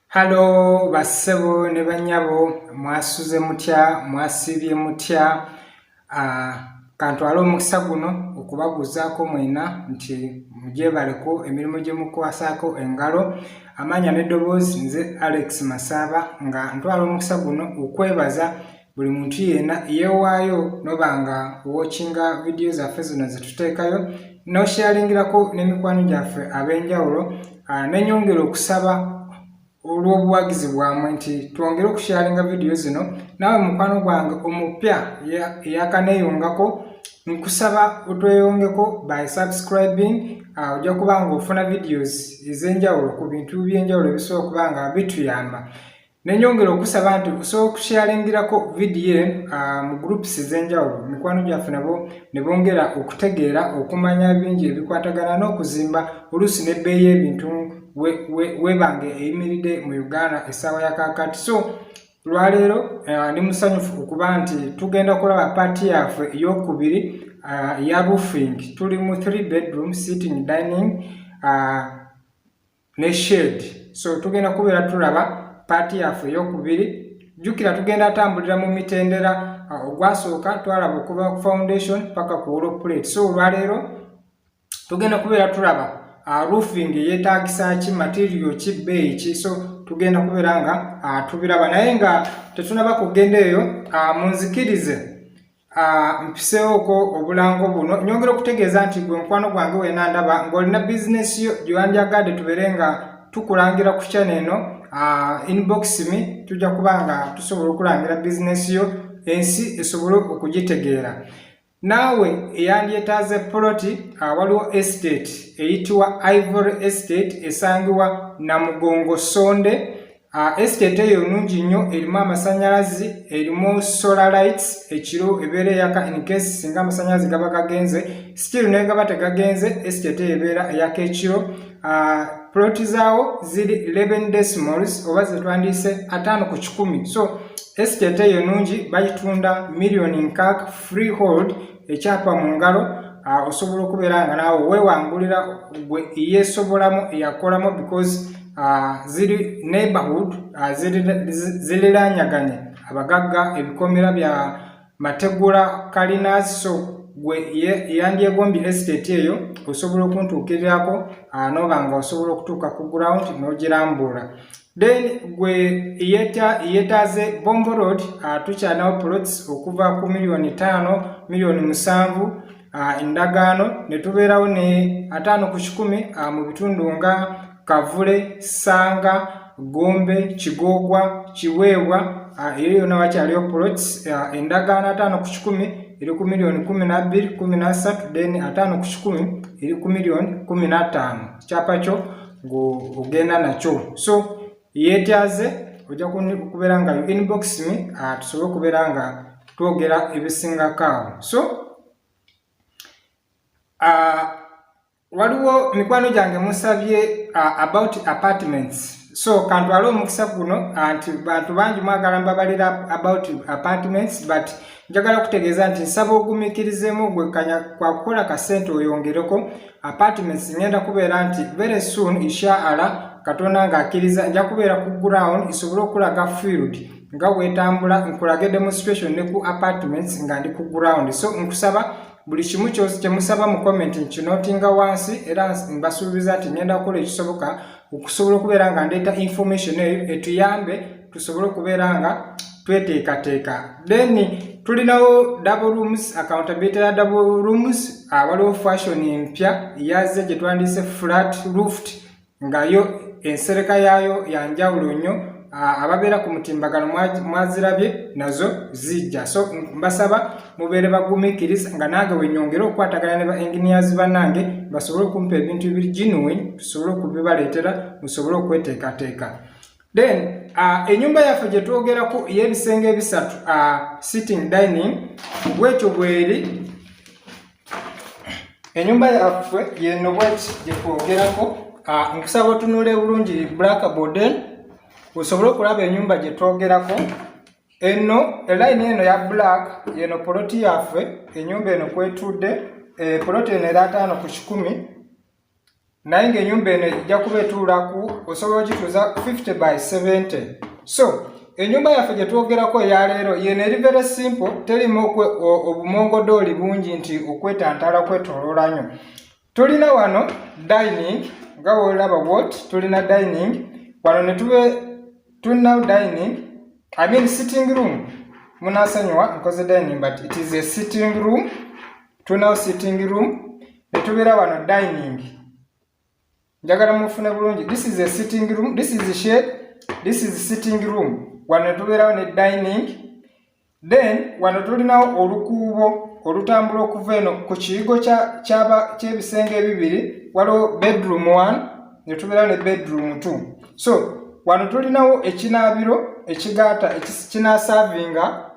halo bassebo ne banyabo mwasuze mutya mwasiibye mutya ah, kantwala omukisa guno okubabuuzaako mwena nti mugyebaleko emirimu gye mukwasaako engalo amaanya n'eddoboozi nze alex masaaba nga ntwala omukisa guno okwebaza buli muntu yena yewaayo noba nga wokinga vidiyo zaffe zino zetuteekayo noshalingirako n'emikwano gyaffe ab'enjawulo ah, nenyongera okusaba olw'obuwagizi bwamwe nti twongere okushalinga vidiyo zino naawe mukwano gwange omupya eyakaneyongako nkusaba otweyongeko by subscribing ah, ojja kuba nga ofuna videos ez'enjawulo ku bintu by'enjawulo ebisobola okuba nga bituyamba Nenyongera okusaba nti osobola okushalingirako vidiyo eno ah, mu groups ez'enjawulo mikwano gyaffe nabo ne bongera okutegeera okumanya bingi ebikwatagana n'okuzimba oluusi n'ebbeeyi y'ebintu webange eyimiridde mu Uganda essaawa ya kaakati so lwaleero ah, ndi musanyufu okuba nti tugenda kulaba paati yaffe ey'okubiri ah, ya roofing tuli mu three bedroom sitting dining ne shade so tugenda kubeera tulaba paati yaffe eyokubiri jjukira tugenda atambulira mu mitendera uh, ogwasooka twalaba okuva ku foundation paka ku wolo plate so olwaleero tugenda kubeera tulaba uh, roofing yetagisa ki material ki bbeeyi ki so tugenda kubeera nga uh, tubiraba naye nga tetunaba kugenda eyo munzikirize Ah, mpiseewoko obulango buno nyongera okutegeeza nti gwe mukwano gwange wena ndaba ng'olina bizinesi yo gyewandyagadde tubeere nga tukulangira ku kyana eno ah, inbox mi tujja kuba nga tusobola okulangira bizinesi yo ensi esobole okugitegeera naawe eyandyetaaze poloti ah, waliwo estate eyitibwa ivory estate esangibwa namugongo sonde Ah, estate eyo nungi nnyo erimu amasanyalazi erimu solar lights ekiro ebeera eyaka incase singa amasanyalazi gaba gagenze still naye gaba tegagenze estate eyo ebeera eyaka ekiro ah, plot zaawo ziri 11 decimals oba zetwandiise ataano ku kikumi so estate eyo nungi bagitunda millioni nkaak freehold ekyapa mu ngalo ah, osobola okubeera nga naawe weewangulira gwe eyeesobolamu eyakolamu because ah, ziri neighborhood ah, ziriraanyaganye abagagga ebikomera bya mategula kalinas so gwe eyandyegombye estate eyo osobola okuntuukirirako nooba nga osobola okutuuka ku ground n'ogirambuula then gwe yetaze bombo road uh, tukyanawo plots okuva ku miliyoni taano miliyoni musanvu uh, endagaano ne tubeerawo ne ataano ku kikumi uh, mu bitundu nga kavule sanga gombe kigoogwa kiweebwa uh, eyo yona wakyaliyo plots uh, endagaano ataano ku kikumi eri ku miliyoni kumi nabbiri kumi nassatu then ataano ku kikumi eri ku miliyoni kumi nattaano kyapa kyo ng'ogenda nakyo so yeetyaze ojja kubeera nga inbox me ah, tusobole okubeera nga twogera ebisingako awo so ah, waliwo mikwano gyange musabye ah, about apartments so kantwale omukisa guno nti bantu bangi mwagala mbabalira about apartments but njagala kutegeeza nti nsaba ogumikirizemu ogwekkanya kwa kukola ka ssente oyongereko apartments ngenda kubeera nti very soon inshaala katonda ng'akkiriza nja kubeera ku ground isobole okulaga field nga weetambula nkulage demonstration ne ku apartments nga ndi ku ground so nkusaba buli kimu kyosi kyemusaba mu comment nkinotinga wansi era mbasuubiza nti ngenda kukola ekisoboka okusobola okubeera nga ndeeta information eyo etuyambe tusobole okubeera nga tweteekateeka then tulinawo double rooms accountability ya double rooms ah, waliwo fashion empya yaze gye twandiise flat rooft nga yo ensereka yaayo ya njawulo nnyo ababeera ku mutimbagano mwazirabye nazo zijja so mbasaba mubeere bagumikiriza nga nange wenyongere okukwatagana ne ba engineers banange basobole okumpa ebintu ebiri genuine tusobole okubibaleetera musobole okweteekateeka then uh, enyumba yaffe gye twogerako ey'ebisenge ebisatu uh, sitting dining bwekyo bweri enyumba yaffe yeno bweti gyetwogerako ah, nkusaba otunula ebulungi black boden osobole okulaba enyumba gyetwogerako eno elayini eno ya black yeno poloti yaffe enyumba eno kwetudde eh, poloti eno era ataano ku kikumi naye ng'enyumba eno ejja kuba etuulaku osobola okituuza 50 by 70 so enyumba yaffe gye twogerako eyaleero yeno eri very simple terimu obumongodooli bungi nti okwetantala kwetoloola nyo tulina wano dining nga wolaba wot tulina dining wano netube tulina dining i mean sitting room munasonyiwa nkoze dining but it is a sitting room tulinawo sitting room ne tubeera wano dining njagala mufune bulungi this is a sitting room this is shade this is sitting room wano ne tubeerawo ne dining then wano tulinawo olukuubo olutambula okuva eno ku kiyigo ky'ebisenge ebibiri waliwo bedroom one ne tubeerawo ne bedroom two so wano tulinawo ekinaabiro ekigaata kinasavinga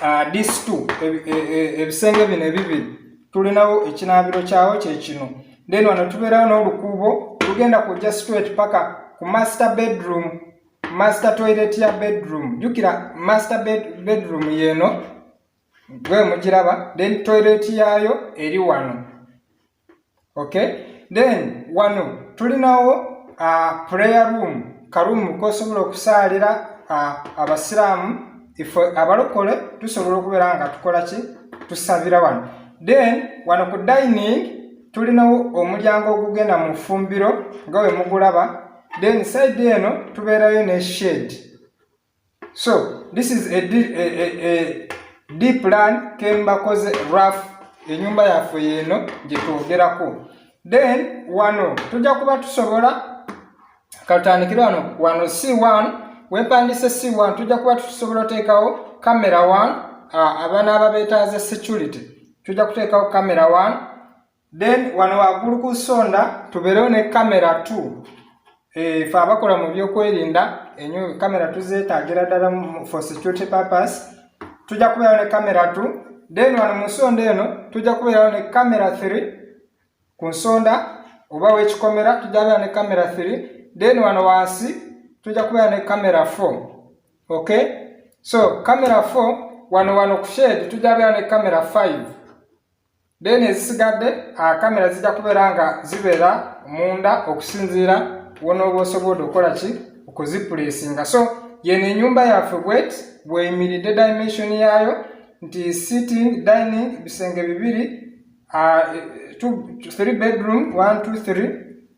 uh, this two e, e, e, ebisenge bino ebibiri tulinawo ekinaabiro kyawo kyekino then wano tubeerawo n'olukuubo lugenda kujja straight paka ku master bedroom master toilet ya bedroom jukira master bed, bedroom yeno gwe mugiraba then toilet yayo eri wano okay then wano tulinawo uh, prayer room karumu kosobola okusaalira uh, abasiraamu ife abalokole tusobola okubeera nga tukola ki tusabira wano then wano ku dining tulinawo omulyango ogugenda mu fumbiro nga wemugulaba then side eno tubeerayo ne shade so this is a, a, a, a deep plan kembakoze rough enyumba yaffe yeeno gyetwogerako then wano tujja kuba tusobola katandikire wano wano c1 wepandise c1 tujja kuba tusobola oteekawo camera 1 abana ababetaaze security tujja kuteekawo camera 1 then wano waggulu ku sonda tubeerewo ne kamera t eh, fe abakola mu byokwerinda enyo kamera tuzeetaagira ddala for security purpose tujja kubeerawo ne kamera t then wano mu nsonda eno tujja kubeerawo ne kamera 3 ku nsonda oba wekikomera tujja kubeera ne kamera 3 then wano wansi tujja kubeera ne kamera 4 okay so kamera 4 wano wano ku shade tujja kubeera ne kamera 5 then ezisigadde kamera zijja kubeera nga zibeera munda okusinziira wonooba osobodde okukola ki okuzipulesinga so yeno enyumba yaffe bwet bweyimiridde dimension yaayo nti sitting dining bisenge bibiri uh, two, three bedroom one two three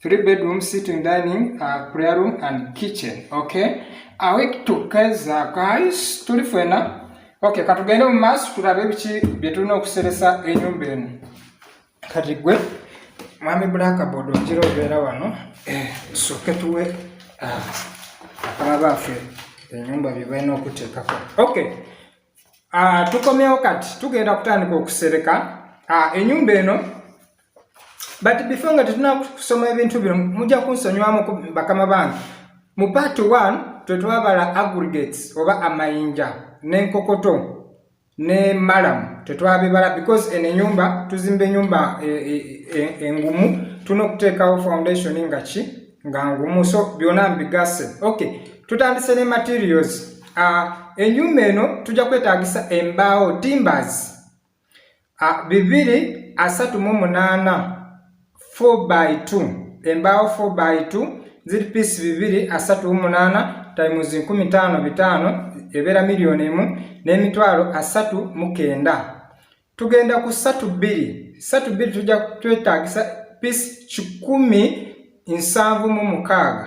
three bedroom sitting dining uh, prayer room and kitchen okay awek tukeza guys tuli fena okay katugende mu maaso tulabe biki bye tulina okuseresa enyumba eno kati gwe mwami blackboard ojira obeera wano eh, soke tuwe uh, akaba baafe enyumba bye balina okuteekako okay uh, tukomyewo kati tugenda kutandika okusereka uh, enyumba eno but before nga tetunakusoma ebintu bino mujja kunsonyiwamu bakama bange mu part 1 twetwabala aggregates oba amayinja n'enkokoto ne malam tetwabibala because eno enyumba tuzimba enyumba e, e, e, engumu tulina okuteekawo foundation nga ki nga ngumu so byona mbigase okay tutandise ne materials uh, enyumba eno tujja kwetagisa embaawo timbers bibiri asatu mu munaana 4 by 2 embaawo 4 by 2 ziri piisi bibiri asatu mu munaana times nkumi taano bitaano ebeera miliyoni emu n'emitwalo asatu mu kenda tugenda ku satu bbiri satu bbiri tujja twetaagisa piisi kikumi nsanvu mu mukaaga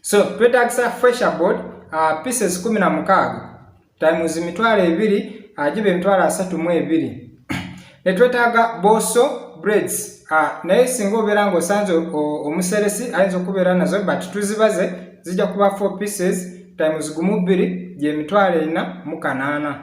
so twetagisa fresher board uh, pieces kumi na mukaaga times mitwalo ebiri agiba uh, emitwalo asatu mu ebiri netwetaaga boso breads uh, naye singa obeera nga osanze omuseresi ayinza okubeera nazo but tuzibaze zijja kuba four pieces times gumu bbiri gyemitwalo ena mu kanaana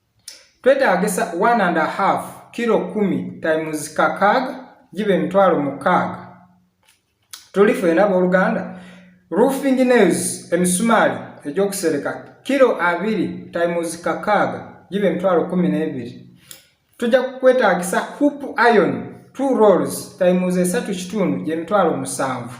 twetaagisa 1 and a half kilo kumi times kakaaga giba emitwalo mukaaga tuli fena abooluganda roofing nails emisumaali egyokusereka kilo abiri times kakaaga giba emitwalo kumi n'ebiri tujja kukwetaagisa hoop iron two rolls times esatu kitundu gyemitwalo musanvu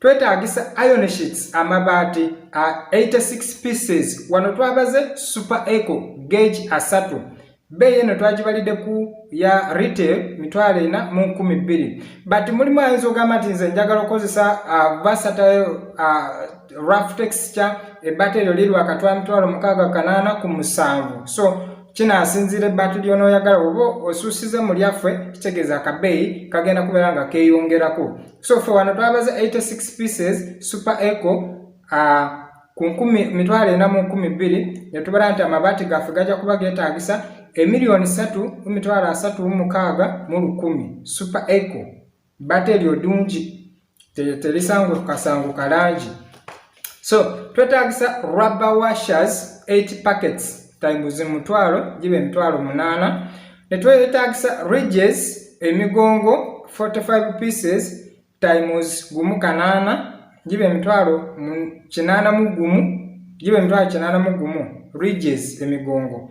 twetaagisa iron sheets amabaati a 86 pieces wano twabaze super eco gage asatu bbeeyi eno twagibalidde ku ya retail mitwalo ena mu nkumi bbiri but mulimu ayinza ogamba nti nze njagala okukozesa vasatile rough texture ebbata eryo liri wakati wa mitwalo mukaaga kanaana ku musanvu so kinasinziira ebbaati lyonooyagala oba osuusize mu lyaffe kitegeeza akabeeyi kagenda kubeera nga keeyongerako so fe wano twabaze 86 pieces super eco uh, ku nkumi mitwalo ena mu nkumi bbiri netubala nti amabaati gaffe gajja kuba getagisa emiliyoni satu mu mitwalo asatu mu mukaaga mu lukumi super eco bate eryo dungi terisangukasangukalaangi so twetagisa rubber washers 8 packets times mutwalo gibe emitwalo munana netwetagisa ridges emigongo 45 pieces times gumu kanana gibe emitwalo kinana mu gumu gibe emitwalo kinana mu gumu ridges emigongo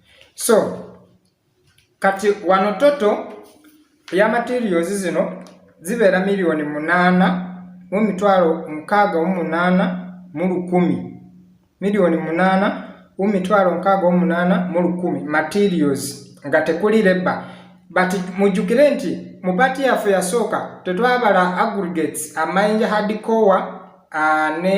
so kati wano toto ya materials zino zibeera miliyoni munaana mu mitwalo mukaaga mu munaana mu lukumi miliyoni munaana mu mitwalo mukaaga mu munaana mu lukumi materials nga tekuli leba but mujjukire nti mu pati yaffe yasooka tetwabala aggregates amayinja hardcowa uh, ne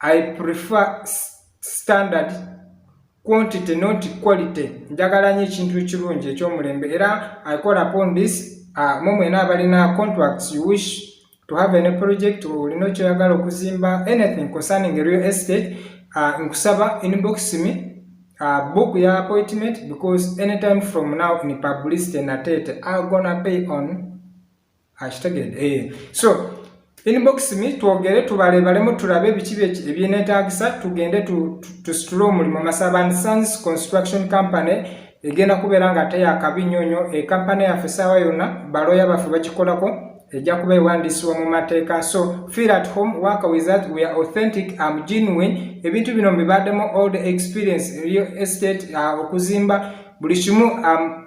I prefer standard quantity not quality njagala nyo ekintu ekirungi ekyomulembe era i call upon this uh, mwe mwena abalina contracts you wish to have any project olina okyoyagala okuzimba anything concerning real estate uh, nkusaba inbox me uh, book ya appointment because anytime from now in publicity natete i gonna pay on akitegedde eh, eh. so inbox mi twogere tubalebalemu tulabe biki ebyenetagisa tugende tusitule omulimu masaban sons construction company egenda kubeera nga ate yakabi nnyo nnyo ekampani eh, yaffe saawa yonna baloya baffe bakikolako ejja kuba ewandiisibwa mu mateeka so feel at home work with that we are authentic am genuine ebintu bino mbibaddemu all the experience real estate uh, okuzimba buli kimu um,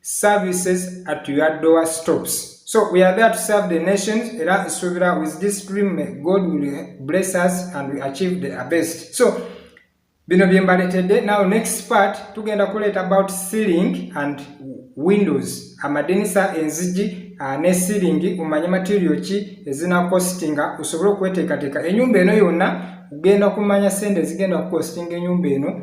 services at your door stops so we are there to serve the nations era nsuubira with this dream god will bless us and we achieve the best so bino bye mbaletedde now next part tugenda kuleeta about sealing and windows amadinisa enzigi uh, ne sealing omanye material ki ezina costinga osobole okweteekateeka enyumba eno yonna ugenda kumanya sente ezigenda kukostinga enyumba eno